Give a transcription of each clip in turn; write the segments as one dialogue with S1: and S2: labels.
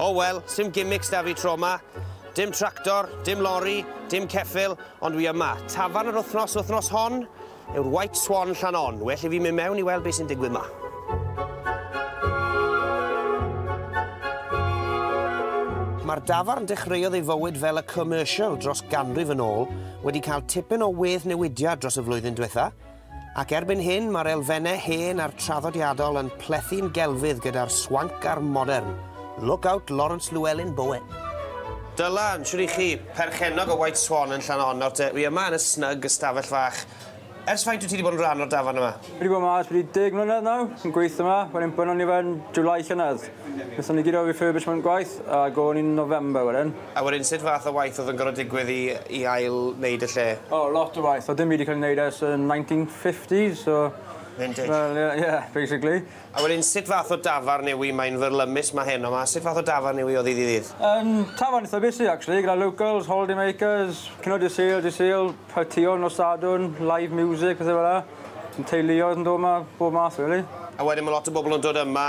S1: O oh, wel, sim gimmicks da fi tro ma. Dim tractor, dim lorry, dim ceffil, ond wi yma. Tafarn yr wythnos wythnos hon yw'r White Swan Llanon. Well i fi mynd mewn i weld beth sy'n digwydd ma. Mae'r dafarn dechreuodd ei fywyd fel y commercial dros ganrif yn ôl, wedi cael tipyn o wedd newidiad dros y flwyddyn diwetha, Ac erbyn hyn, mae'r elfennau hen a'r traddodiadol yn plethu'n gelfydd gyda'r swanc a'r modern. Look out Laurence Llewelyn Bowen. Dylan, shwt i chi? Perchennog o White Swan yn Llanonor te. Wi yma yn y snug ystafell fach. Ers faint wyt ti wedi bod yn rhan o'r dafarn yma? Fi wedi bod yma ers bron i deg mlynedd nawr, yn gweithio yma, wedyn bynnon ni fe yn July llynedd. Nethon ni gyd o'r refurbishment gwaith a gôn i'n November wedyn. A wedyn sut fath o waith oedd yn gorfod digwydd i i ail wneud y lle? O lot o waith, oedd dim byd 'di cael ei wneud ers y 1950s so... Vintage. ...wel ie ie basically. A wedyn sut fath o dafarn yw 'i, mae'n fyrlymus 'ma heno 'ma, sut fath o dafarn yw 'i o ddydd i ddydd? Yym tafarn eitha busy actually gyda locals, holiday makers, cynnwys Dydd Sul, Dydd Sul, partïon nos Sadwrn, live music, pethe fel 'a. Teuluoedd yn dod 'ma, bob math rili. A wedyn ma' lot o bobl yn dod yma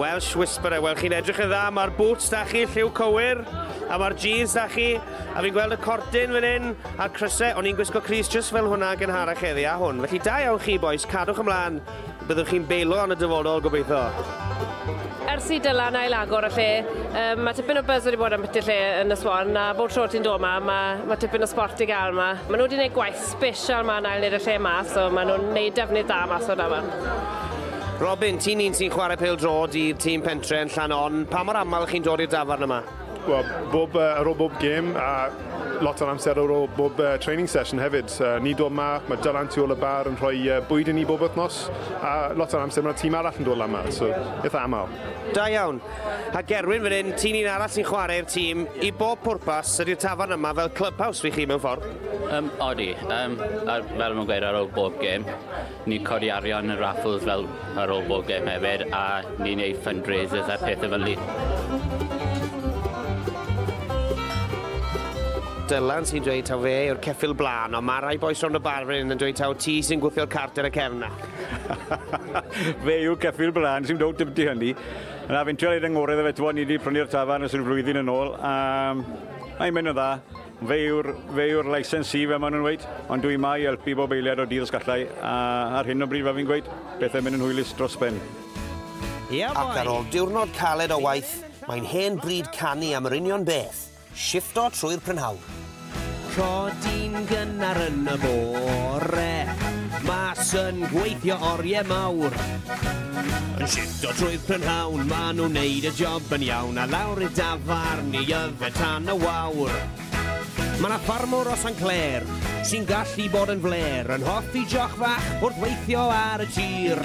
S1: Welsh Whisperer, wel chi'n edrych yn dda, mae'r boots da chi, lliw cywir, a mae'r jeans da chi, a fi'n gweld y cordyn fan hyn, a'r crysau, o'n i'n gwisgo Cris just fel hwnna gen harach heddi a hwn. Felly da iawn chi boys, cadwch ymlaen, byddwch chi'n beilo yn y dyfodol gobeithio. Ers i Dylan ail agor y lle, um, mae tipyn o buzz wedi bod am beth y lle yn y swan, a bob tro ti'n dod yma, mae, mae tipyn o sport i gael yma. Mae nhw wedi gwneud gwaith Fish a mae'n ail neud y lle ma, so maen nhw'n neud defnydd da mas o'r dafarn. Robin, ti'n un sy'n chwarae pêl drod i'r tîm pentre yn llan on. Pa mor aml chi'n dod i'r dafarn yma? Wel, bob, uh, ar ôl bob gêm a lot o'n amser ar ôl bob uh, training session hefyd. Uh, ni dod ma, mae Dylan tu ôl y bar yn rhoi uh, bwyd i ni bob wythnos a lot o'n amser mae'r tîm arall yn dod lan yma, so eitha aml. Da iawn. Ha Gerwyn fan hyn, ti'n un arall sy'n chwarae i'r tîm. I bob pwrpas, ydy'r tafarn yma fel clubhouse fi chi mewn ffordd? Um, odi. Um, ar, fel mae'n gweud ar ôl bob gêm, ni'n codi arian yn raffles fel ar ôl bob gêm hefyd, a ni'n neud fundraisers a pethau fel ni. Dylan sy'n dweud taw fe yw'r ceffil blaen, ond mae rai boes rhwng y bar fan yn dweud taw ti sy'n gwthio'r cart ar y cefn na. fe yw'r ceffil blaen sy'n dod dybdi hynny. Na, fi'n trio neud yn ngore iddo fe, t'mod ni 'di prynu'r tafarn ers ryw flwyddyn yn ôl a mae'n mynd yn dda. Fe yw'r fe yw'r licensee fel ma' nhw'n weud, ond dwi 'ma i helpu bob eiliad o dydd os gallai a ar hyn o bryd fel fi'n gweud, pethe'n mynd yn hwylus dros ben. Ac ar ôl diwrnod caled o waith, mae'n hen bryd canu am yr union beth! Shiffto trwy'r prynhawn. Codi'n gynnar yn y bore. Mas yn gweithio orie mawr. Yn shiffto trwy'r prynhawn. Ma' nhw'n neud y job yn iawn. A lawr i'r dafarn i yfed tan y wawr. Ma' 'na ffarmwr o San Clair. Sy'n gallu bod yn flêr. Yn hoffi joch fach wrth weithio ar y tir.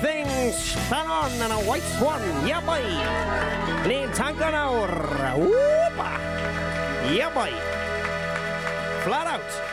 S1: Things, Llannon and a White Swan, yeah boy! Ni'n tango nawr, wwpa! Yeah boy! Flat out!